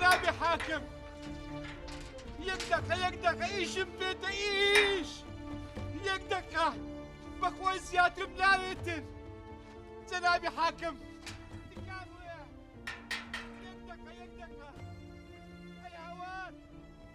جەنابی حاکم یەک دەقە یەک دەقە ئیشم بێتە ئیش یەک دەقە بەخۆی زیاترم ناوێتر جەنابی حاکم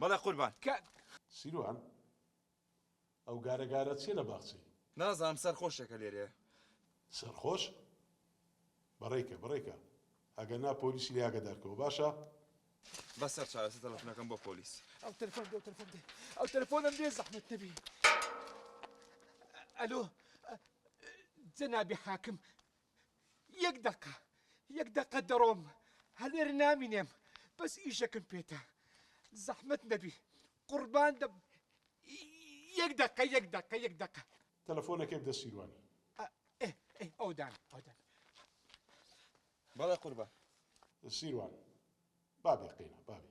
بەڵێ قوربان کاک. سیروان ئەو گارە گارە چیە لە باخچەی. نازانم سەر خۆشێکە لێرێ. سەرخۆش بەڕێکە بڕێکە ئەگەر نا پۆلیسی لێ ئاگەدار کەوە باشە. بەسەر چارەسە تەلەفۆنەکەم بۆ پۆلیس. ئەو تەلەفۆن دێ ئەو تەلەفۆن دێ ئەو تەلەفۆنم دێ زەحمەت نەبی. ئەلۆ جەنابی حاکم یەک دەقە یەک دەقە دەڕۆم هەلێر نامینێم بەس ئیشەکم پێتە زەحمەت نەبی قوربان دەم یەک دەقە یەک دەقە یەک دەقە تەلەفۆنەکەی بدە سیروانی. ئەودان ئەودان. بەڵێ قوربان. سیروان. بابێ قەینا بابێ.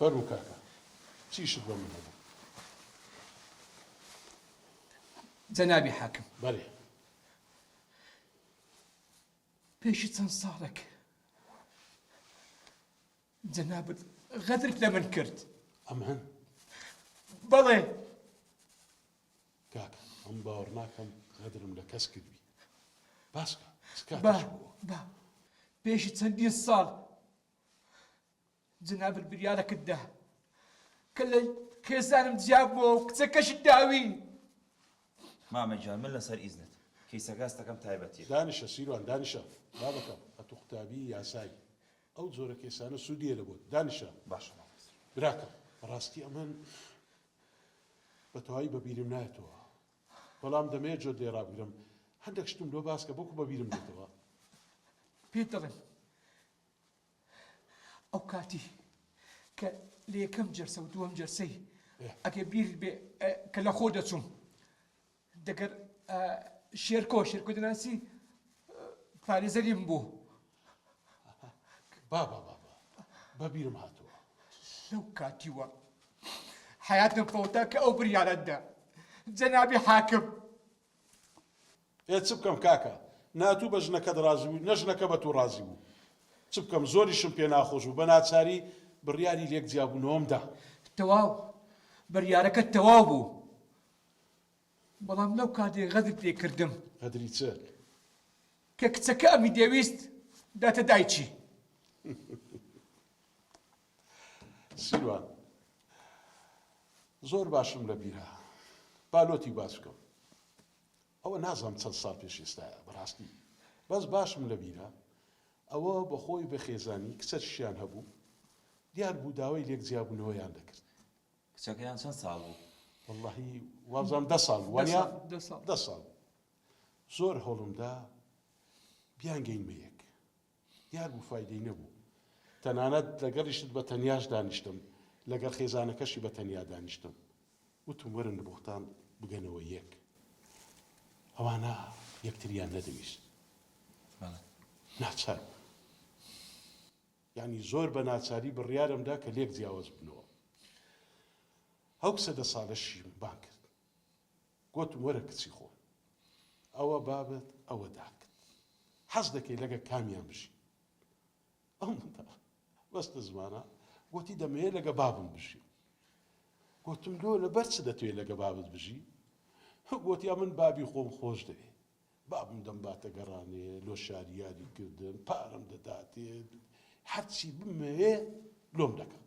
فەرموو کاکە چیشت بۆ من هەبوو جەنابی حاکم بەێ پێشی چەند ساڵێک جەنابت غەدرت لە من کرد. ئەم هەن؟ بەڵێ. کاکە ئەم باوەڕ ناکەم غەدرم لە کەس کردبی. باسکە با با پێشی چەندین ساڵ جەنابت بریارەکت دا کە لە خێزانم جیا بووە و کچەکەشت داوی. مامە گیان من لەسەر ئیزنت کەیسەکە هەستەکەم تایبەتیە. دانیشە سیروان دانیشە بابەکەم ئەتوو قوتابی یاسای ئەو جۆرە کێسانە سوود نییە لە بۆت. دانیشە. باشە مامۆستا. براکەم بەڕاستی ئەمن بەتەواوی بەبیرم نایەتەوە بەڵام دەمەیە جۆت لێ ڕابگرم هەندەک شتم لۆ باسکە بۆکو بەبیرم دێتەوە. پێت دەڵێم ئەو کاتی کە لە یەکەم جەرسە و دووەم جەرسەی ئەگەر بیرت بێ کە لە خۆ دەچووم دەگەر شێرکۆ شێرکۆ دەناسی پارێزەریم بوو بابا بابا بەبیرم هاتووە لەو کاتیوە حیاتم فەوتا کە ئەو بریارەتدا جەنابی حاکم ئێ چ بکەم کاکە ناتوو بە ژنەکەت ڕازی بوو نە ژنەکە بە تو ڕازی بوو چ بکەم زۆریشم پێ ناخۆش بوو بە ناچاری بڕیاری لێک جیابوونەوەمدا تەواو بڕیارەکە تەواو بوو بەڵام لەو کاتەی غەدرت لێ کردم. غەدری چ؟ کە کچەکە ئەمی دەویست بداتە دایکی. سیروان، زۆر باشم لە بیرە. با لۆتی باس بکەم. ئەوە نازانم چەند ساڵ پێش ئێستایە بەڕاستی. بەس باشم لە بیرە ئەوە بە خۆی بە خێزانی کچەشیان هەبوو، دیار بوو داوای لێک جیابوونەوەیان دەکرد. کچەکەیان چەند ساڵ بوو؟ وەڵاهی وابزانم دە ساڵ بوو وانیە؟ دە ساڵ بوو زۆر هەوڵمدا بیانگەینمە یەک دیار بوو فایدەی نەبوو تەنانەت لەگەڵیشت بە تەنیاش دانیشتم لەگەڵ خێزانەکەشی بە تەنیا دانیشتم وتم وەرن بۆختان بگەنەوە یەک ئەوانە یەکتریان نەدەویست ناچار بوو. یانی زۆر بە ناچاری بڕیارم دا کە لێک جیاوز بنەوە هەو کچە دە سالە شیم بان کرد گۆتم وەرە کچی خۆم ئەوە بابت ئەوە داکت حەز دەکەی لەگە کامیان بژی ئەو بەستە زمانە گوتی دەمەیە لەگە بابم بژی گوتم لۆ لە بەرچ دەتوێت لەگە بابت بژی گوتیا من بابی خۆم خۆش دەوێت بابم دەمباتە گەڕانێ لۆ شاری یاری کردن، پارەم دەداتێ، هەرچی بمەوێ لۆم دەکات.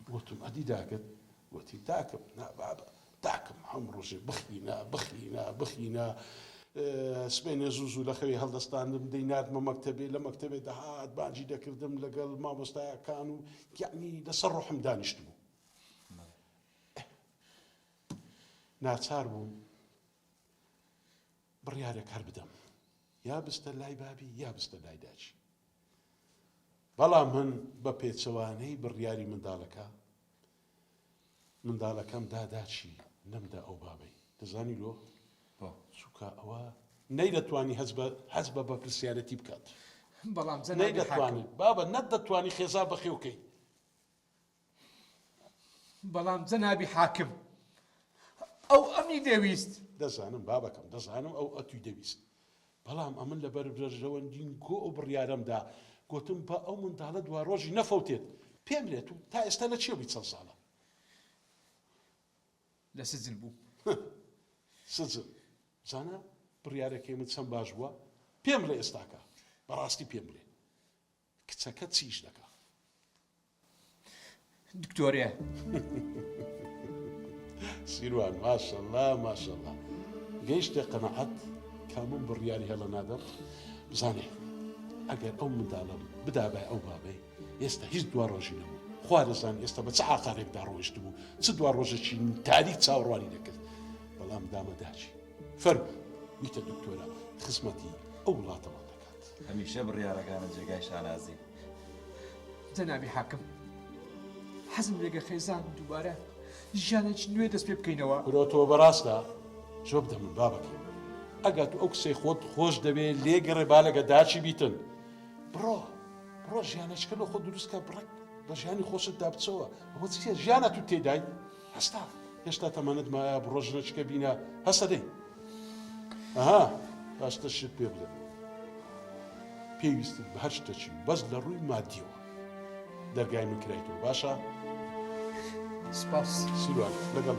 گۆتم، ئەدی داکت؟ گۆتی، داکم، نا بابە، داکم، هەموو ڕۆژێ بخینە، بخینە، بخینە. سبەینێ زوو زوو لە خەوی هەڵدەستاندم، دەیناردمە مەکتەبێ، لە مەکتەبێ دەهات، بانگی دەکردم لەگەڵ مامۆستایەکان و یەعنی لە سەر ڕۆحم دانیشتبوو. ئه. ناچار بووم بڕیارێک هەر بدەم یا بستە لای بابی یا بستە لای داچی بەڵام من بە پێچەوانەی بڕیاری منداڵەکە منداڵەکەم داداچی نەمدا ئەو بابەی دەزانی لۆ چووکە ئەوە نەی دەتوانی هەز بە هەز بە بەپرسیارەتی بکات بەڵام نەی دەتوانێت بابە نەت دەتوانی خێزا بەخێوکەی بەڵام جەنابی حاکم ئەو ئەمی دەویست. دەزانم بابەکەم، دەزانم ئەو ئەتوی دەویست. بەڵام ئەمن لە بەربرژەوەندین کۆ ئەو بڕیارەمدا، گۆتم با ئەو منداڵە دوارۆژی نەفەوتێت. پێم لێت و تا ئێستا لە چێ بووی چەند ساڵە؟ لە سجن بووم. سجن. زانا بڕیارەکەی من چەند باش بووە؟ پێم بڵێ ئێستاکە. بەڕاستی پێم بڵێ. کچەکە چیش دەکا دکتۆرێ. سیروان ماشەڵا ماشەڵا گەیشتە قەنەعەت کامم بڕیاری هەڵە نادەم بزانێ ئەگەر ئەو منداڵم بدابای ئەو بابێ ئێستا هیچ دوا ڕۆژی نەبوو خوا دەزان ئێستا بە چ عقارێکدا ڕۆشت بوو چ دوا ڕۆژەکی تاریک چاوەڕوانی دەکرد بەڵام دامەداچی فەرمو ویتە دکتۆرە خزمەتی ئەو وڵاتەوە دەکات هەمیشە بڕیارەکانت جێگای شانازین جەنابی حاکم. حەزم لێگە خێزان دووبارە ژیانێکی نوێ دەست پێ بکەینەوە. کورە تۆ بەراستە زۆر بدە من بابەکەی من ئەگەر تو ئەو کسەی خۆت خۆش دەوێ لێ گەڕێ با لەگە داچی بیتن بڕۆ بڕۆ ژیانەچکە لۆ خۆ دروستکە بڕک بە ژیانی خۆشت دابچەوە ئەوە چیە ژیانە تو تێدای هەستا هێشتا تەمەنت مایە بڕۆ ژنەچکە بینە هەسە دەی ئەها باشتە شت پێ بڵێ پێویستت بە هەر شتەچی بەس لە ڕووی مادیەوە دەرگای من کرایتەوە باشە سپاس سیروان لەگەڵ.